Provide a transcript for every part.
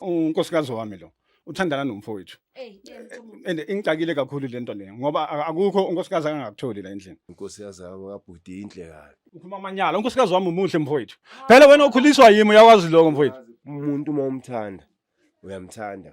unkosikazi wami lo uthandana nomfowethu and ingixakile kakhulu le nto leyo ngoba akukho unkosikazi akangakutholi la endlini unkosikazi wami kabhuti inhle kabi ukhuluma amanyala unkosikazi wami umuhle mfowethu phela wena ukhuliswa yimi uyakwazi lokho mfowethu umuntu uma umthanda uyamthanda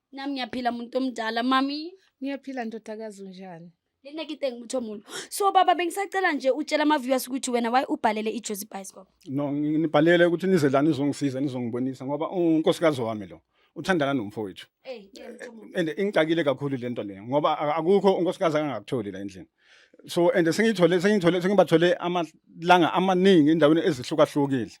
Nami ngiyaphila muntu omdala mami. Ngiyaphila ndodakazi unjani? Lena kite ngimutho omulo. So baba bengisacela nje utshela ama viewers ukuthi wena why ubhalele iJozi Bicycle. No ngi- nibhalele ukuthi nize la nizongisiza nizongibonisa ngoba unkosikazi wami lo uthandana nomfowethu. Eh, ngiyamutho omulo. And ingixakile kakhulu lento leyo ngoba a- akukho unkosikazi angakutholi la endlini. so and sengithole sengithole sengibathole amalanga amaningi endaweni ezihlukahlukile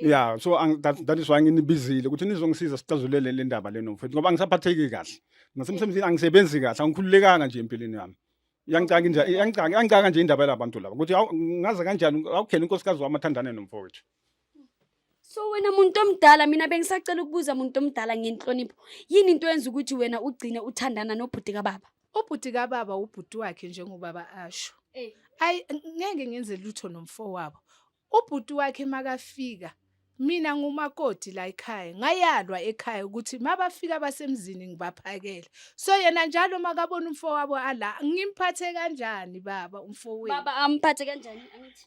yeah so ang- that, that is why nginibizile ukuthi nizongisiza sixazulele le ndaba leno mfethu ngoba angisaphatheki kahle nasemsebenzini angisebenzi kahle angikhululekanga nje empilweni yami iyangicaka nje iyangicaka iyangicaka nje indaba yalabantu laba ukuthi awu ngaze kanjani awukhele unkosikazi wami athandane nomfowethu So wena muntu omdala mina bengisacela ukubuza muntu omdala ngenhlonipho. Yini into yenza ukuthi wena ugcine uthandana nobhuti kababa? Ubhuti kababa ubhuti wakhe njengobaba asho. Eh. Ayi ngeke ngenze lutho nomfowabo. Ubhuti wakhe makafika mina ngumakoti la ekhaya ngayalwa ekhaya ukuthi mabafika basemzini ngibaphakele so yena njalo makabona umfowabo ala ngimphathe kanjani baba umfowethu baba amphathe kanjani angithi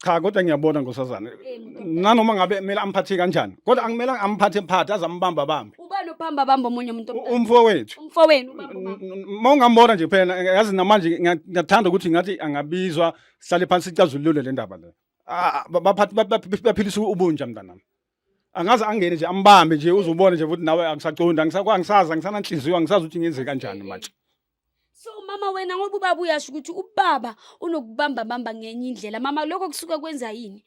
cha kodwa ngiyabona ngosazana Eh, mdoda. nanoma ngabe kumele amphathe kanjani kodwa angimelanga amphathe mphathe aze ambamba bambe ubani ophamba bamba omunye umuntu U- omdala? umfowethu umfowenu ubamba ubamba. uma ungambona nje phela yazi namanje ngiya- ngiyathanda ukuthi ngathi angabizwa sihlale phansi sicazulule le ndaba le Ah, ba- baphathi- ba- ba- baphilisa ubunja mntanami angaze angene nje ambambe nje uzubone nje ukuthi nawe angisaqondi angisakwa angisazi angisananhliziyo angisazi ukuthi ngenze kanjani manje so mama wena ngoba ubaba uyasho ukuthi ubaba unokubamba bamba ngenye indlela mama lokho kusuke kwenza yini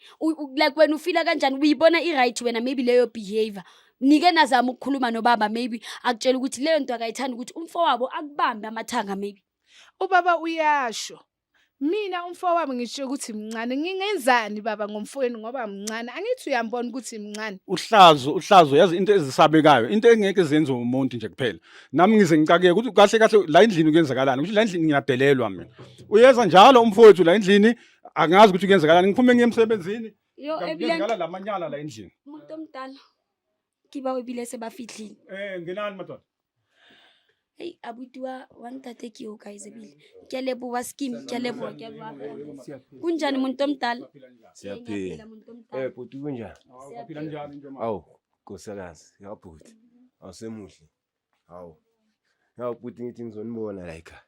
like wena ufila kanjani uyibona i-right wena maybe leyo behavior nike nazama ukukhuluma nobaba maybe akutshela ukuthi leyo nto akayithandi ukuthi umfowabo akubambe amathanga maybe ubaba uyasho Mina umfowabo ngisho ukuthi mncane ngingenzani baba ngomfowenu ngoba mncane angithi uyambona ukuthi mncane. Uhlazo uhlazo yazi into ezisabekayo into engeke zenze umuntu nje kuphela. Nami ngize ngicakeke ukuthi kahle kahle la endlini kuyenzakalani ukuthi la endlini ngiyadelelwa mina. Uyeza njalo umfowethu la endlini angazi ukuthi kuyenzakalani ngiphume ngiye emsebenzini. Yo ebulenga. Ngala lamanyala la endlini. Umuntu omdala. ke bao ebile se ba fitlhile Eh, ngenani madoda. ei abuti wa wa ntate ke o guys ebile ke a leboa skim ke a leboa ke a leboa kunjani muntu omdala Siyaphila. Ngiyaphila, muntu omdala. Eh bhuti kunjani? Awu, baphila njani nje manje? Awu nkosikazi, ya bhuti. Awusemuhle. Awu. Ya bhuti ngithi ngizonibona la ekhaya.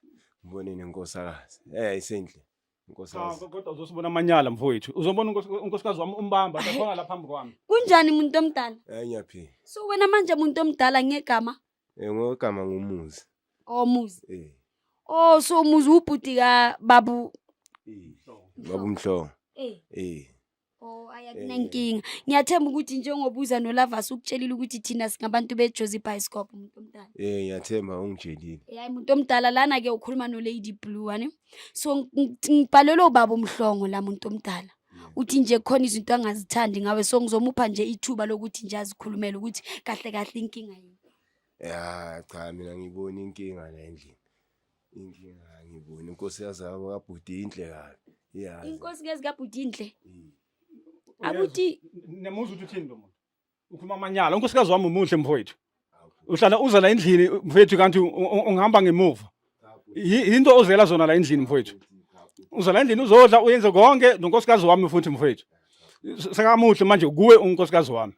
Ngibone nenkosikazi. Eh isenhle. Nkosi Cha yazi. kodwa uzosibona amanyala mfowethu. Uzobona unkos- unkosikazi wami umbamba sakhona la phambi kwami. Kunjani muntu omdala? Hayi ngiyaphila. So wena manje muntu omdala ngegama Eh ngogama ngomuzi. omuzi. Eh. Oh so umuzi ubhuti ka babu. Babu Mhlongo. Eh. Eh. Oh ayakunankinga. Eh. Ngiyathemba ukuthi njengoba uza noLavas ukutshelile ukuthi thina singabantu beJozi Bioscope umuntu omdala. Eh ngiyathemba ungitshelile. Eh, hayi umuntu omdala lana ke ukhuluma no Lady Blue wani. So ngibhalelwe ubaba umhlongo la muntu omdala. uthi nje khona izinto angazithandi ngawe so ngizomupha nje ithuba lokuthi nje azikhulumele ukuthi kahle kahle inkinga yini ya cha mina ngibona inkinga la endlini Inkinga angiboni inkosi yazabo kabhuti inhle kabi. Iyazi. Inkosi kazi kabhuti inhle. Abuti nemuzwa ukuthi uthini lo muntu. Ukhuluma amanyala. Unkosikazi wami umuhle mfowethu. Uhlala uza la endlini mfowethu kanti ungihamba ngemuva. Yinto ozela zona la endlini mfowethu. Uza la endlini uzodla uyenze konke nonkosikazi wami futhi mfowethu. Sekamuhle manje kuwe unkosikazi wami.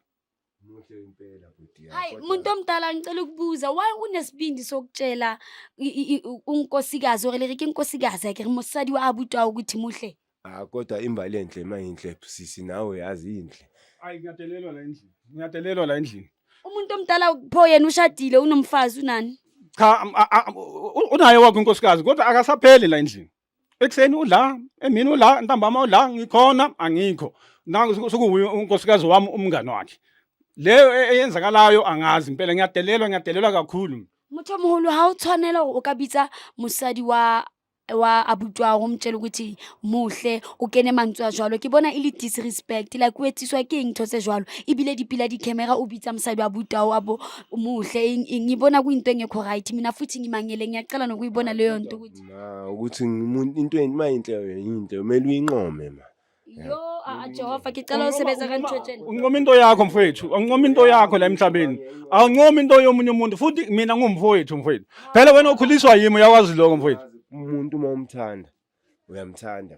Muhle impela bhuti yami. Hayi kodwa- muntu omdala ngicela ukubuza why unesibindi sokutshela i- i- i- unkosikazi or lerike inkosikazi yakhe mosadi wa abuti wawo ukuthi muhle Ah kodwa imbali enhle mayinhle sisi nawe yazi inhle. Ayi ngiyadelelwa la endlini. Ngiyadelelwa la endlini. umuntu omdala pho yena ushadile unomfazi unani Cha am- a- a- u- unaye wakho inkosikazi kodwa akasapheli la endlini. ekuseni udla emini udla ntambama udla ngikhona angikho nangu sukuwuye unkosikazi wami umngane wakhe leyo e-, eyenzakalayo angazi impela ngiyadelelwa ngiyadelelwa kakhulu motho o mogolo ga o tshwanela o ka bitsa mosadi wa wa abutwa go mtšele ukuthi muhle o kene mantswe a jalo ke bona e le disrespect like o etsiswa ke eng tho tse jalo ebile dipila dicamera o bitsa mosadi wa butao a bo muhle eng eng e bona kuinto engekho right mina futhi ngimangeleng yacela nokuibona leyo nto ukuthi Ma ukuthi ngimuntu into yini mayinhle yinhle kumele uyinqome ma. Yo, ah, ah, Jehova, ngicela usebenza kanjotsheni. Unqoma into yakho mfowethu, unqoma into yakho la emhlabeni. Awunqoma into yomunye umuntu futhi mina ngumfowethu mfowethu. Phela wena ukhuliswa yimi uyakwazi lokho mfowethu. Umuntu uma umthanda uyamthanda.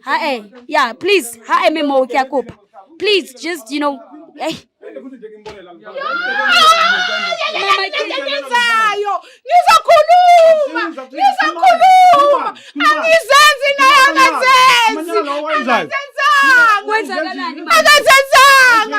ha e yeah please ha eme moo ke a kopa please just you know hey engiyenzayo ngizokhuluma ngizokhuluma angizenzi naye akazenzi akazenzanga akazenzanga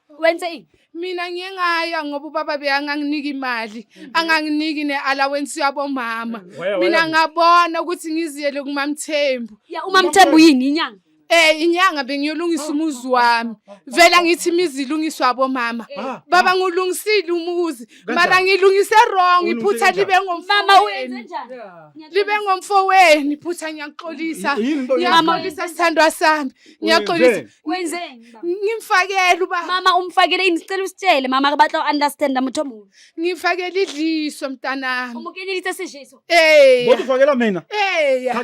wenze ini mina ngiye ngaya ngoba ubaba beyanganginiki imali mhm. anganginiki ne-allowance yabomama mina ngabona ukuthi ngiziyele kumamthembu ya umamthembu yini inyanga Eh inyanga bengiyolungisa ah, umuzi ah, wami. Ah, Vela ngithi imizi ilungiswa abomama. Eh. Baba ngulungisile umuzi. Mara ngilungise wrong iphutha libe ngomfama wenu. Libe ngomfo wenu iphutha ngiyaxolisa. Ngiyaxolisa sithandwa sami. Ngiyaxolisa. Wenzeni? Ngimfakele uba. Mama umfakele yini sicela usitshele mama akabatla understand mutho omubi. Ngimfakele idliso mntanami. Umukenile ithe sijeso. Eh. Kodwa ufakela mina. Eh.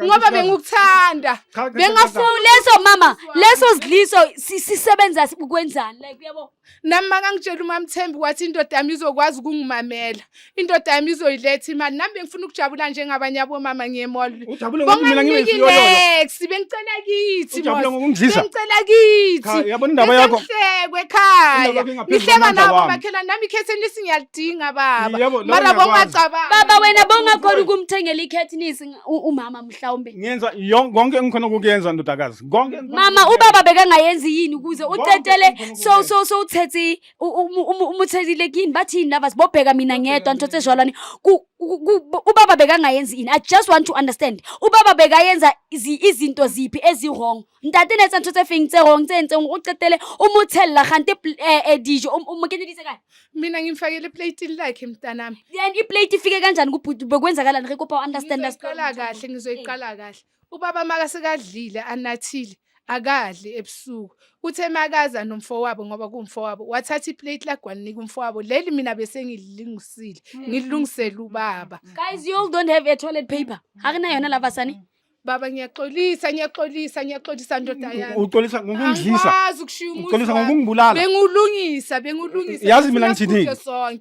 Ngoba bengikuthanda. Bengafuna leso mama leso sidliso sisebenza ukwenzani like uyabo. nami makangitshela umamthembi wathi indoda yami izokwazi ukungimamela indoda yami izoyiletha imali nami bengifuna ukujabula njengabanye abomama ngiyemolbonganex bengicela kithi bengicela kithihlekwe ekhaya ngihleka nabo makhelwane nami ikhetheni lisi ngiyalidinga baba mara bongacabanga baba wena bongakhona ukumthengela ikhethini umama mhlawumbe ngiyenza yon- konke engikhona ukukuyenza ndodakazi konke engikhona mama ukukuyenza. ubaba bekangayenzi yini ukuze Konke utetele engikhona so ukukuyenza. so so uthethi u- umu- umu- umuthetile kini bathi yini lava sibobheka mina ngedwa nthothe jwalwane Ku- ku- ku- ubaba bekangayenzi yini i just want to understand ubaba bekayenza izi- izinto ziphi ezi-wrong ntate ne etsa ntho tse feng tse rong tse entseng o qetele o mo tshella gante eh, eh, dijo o mo kenyeditse kae mina ngimfakele plate lakhe mntanami then iplate ifike kanjani kubhuti bekwenzakalani re kopa understand ngizoyiqala kahle ngizoyiqala kahle ubaba maka sekadlile anathile akadli ebusuku uthe makaza nomfowabo ngoba kumfowabo wathatha iplate lagwalinika umfowabo leli mina bese ngililungisile mm. ngilungisele ubaba guys you all don't have a toilet paper akunayona labasani Baba ngiyaxolisa ngiyaxolisa ngiyaxolisa ndoda yami. Uxolisa ngokungidlisa. Angikwazi ukushiya umuzi. Uxolisa ngokungibulala. Bengulungisa bengulungisa. Yazi mina ngithini?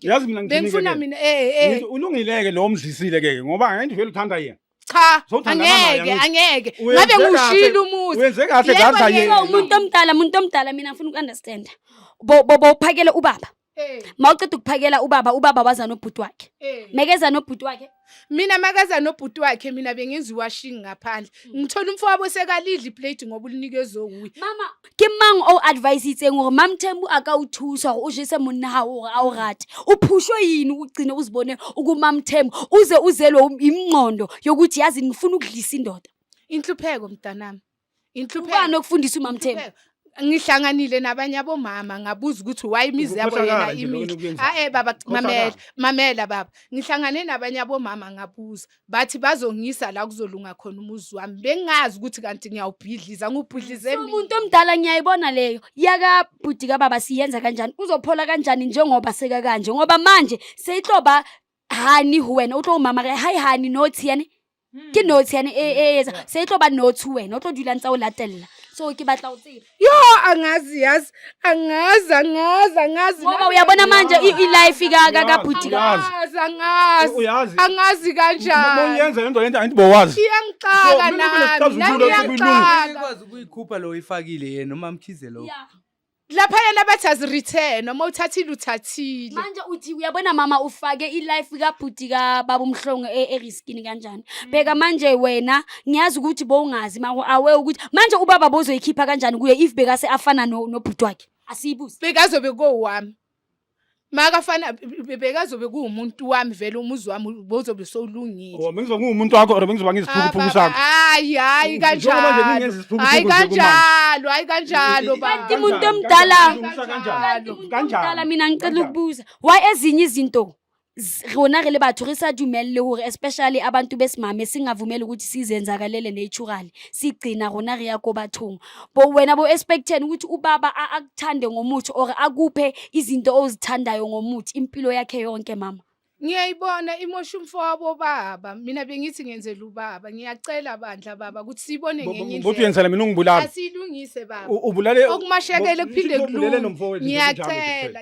Yazi mina ngithini? Bengifuna mina eh eh. Ulungileke lo omdlisile ke ngoba ngeke vele uthanda yena. Cha angeke angeke. Ngabe ngushila umuzi. Wenze kahle ngakho yena. Umuntu omdala umuntu omdala mina ngifuna ukunderstanda. Bo bo phakele ubaba. Eh. mawuceda ukuphakela ubaba ubaba waza nobhuti wakhe eh. mekeza nobhuti wakhe mina makaza nobhuti wakhe mina bengenza iwashing ngaphandle hmm. ngithola umfowabo sekalidla iplate ngoba ulinikezwe wuye mama ke mang o advise itseng gore mamthembu a ka o thusa gore o jese monna ga gore a o rate o phushwe yini ugcine uzibone ukumamthembu uze uzelwe yimngqondo yokuthi yazi ngifuna ukudlisa indoda inhlupheko mntanami Inhlupano ukufundisa uMamthembu. ngihlanganile nabanye abomama ngabuza ukuthi why imizi yabo yena Ukukhohlakala nje lokho imile enikwenzile. hae baba Ukukhohlakala. mamela mamela baba ngihlangane nabanye abomama ngabuza bathi bazongisa la kuzolunga khona umuzi wami bengazi ukuthi kanti ngiyawubhidliza ngubhidlize mina umuntu omdala ngiyayibona leyo yaka bhuti kababa siyenza kanjani uzophola kanjani njengoba seka kanje ngoba manje seyihloba hani wena utlo umama ke hayi hani nothi yani ke notes yane e e etsa se e tlo ba notes wena o tlo dulang tsa o latella so ke batla o tseba yo angazi yazi angazi angazi angazi ngoba uyabona manje i- ilife ka ka ka bhuti ka Uyazi. angazi angazi Uyazi. angazi kanjani Moyenza lento lento angithi bowazi. iyangixaka So, mina nami nami bengicazulula ukuthi kuyilunga. iyangixaka Ikwazi ukuyikhupha lo ifakile yena umamkhize lo. laphaya labathi azireturn uma uthathile uthathile manje uthi uyabona mama ufake ilife kabhuti kababa umhlongo e- eriskini kanjani Mm. bheka manje wena ngiyazi ukuthi bowungazi mako awe ukuthi manje ubaba bozoyikhipha kanjani kuye if bekase afana no- nobhuti wakhe asiyibuzi bekazobe kowami makafana bekazobe kuwumuntu wami vele umuzi wami bozobe sowulungile oh, bengizobe ngiwumuntu wakho or bengizoba ngiziphukuphuku sakho hayi hayi kanjalo hayi kanjalo hayi kanjalo kanti umuntu omdala kanjalo mina ngicela ukubuza why ezinye izinto s- rona re le batho re sa dumelele hore especially abantu besimame singavumeli ukuthi sizenzakalele naturally sigcina rona re ya ko bathong bo wena bo expecten ukuthi ubaba a- akuthande ngomuthi or akuphe izinto ozithandayo ngomuthi impilo yakhe yonke mama ngiyayibona imosha umfo wabo baba mina bengithi ngenzela ubaba ngiyacela bandla baba ukuthi siyibone Bo- bo- ngenye bo- Uthi indlela uyenzela mina ungibulala. asiyilungise baba U- Ubulale okumashekele Bo- kuphinde Uthi ubulele kulunge nomfowethu nje, kunjalo nje kuphela. ngiyacela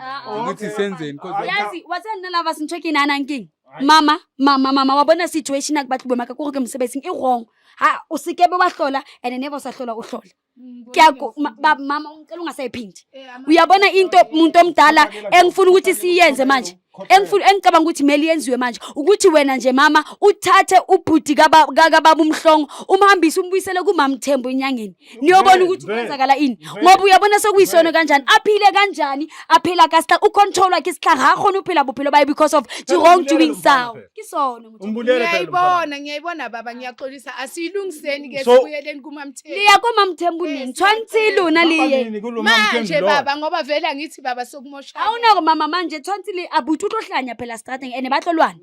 Ah, ah. ukuthi Okay. senzeni cause Hayi, cha. yazi wa tsaya nna lava sentho ke naanang keng Hayi. mama mama mama wa bona situation a ke batle boemaka kore ke mosebetsing e wrong ha o sekebe wa hlola and never o sa hlola o hlola ke ya ko- ma- ba- mama ngicela ungasayiphindi uyabona into umuntu omdala engifuna ukuthi siyenze manje engifuna engicabanga ukuthi mele yenziwe manje ukuthi wena nje mama uthathe ubhuti kaba- ka- kababa umhlongo umhambise umbuyisele kumamthembu enyangeni niyobona ukuthi kwenzakala ini ngoba uyabona sekuyisono kanjani aphile kanjani aphila kasihla ucontrol wakhe isihla ngakhona uphila buphilo baye because of the wrong doing sound kisono ngiyayibona ngiyayibona baba ngiyaxolisa asiyilungiseni ke sibuyeleni kumamthembu liya kumamthembu nini tshwantshe lona liye manje baba ngoba vele angithi baba sokumosha awunako mama manje tshwantshe li abuthi utohlanya phela starting and bahlolwana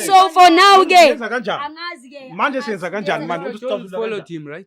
so for now ke angazi ke manje senza kanjani manje uthi stop follow team right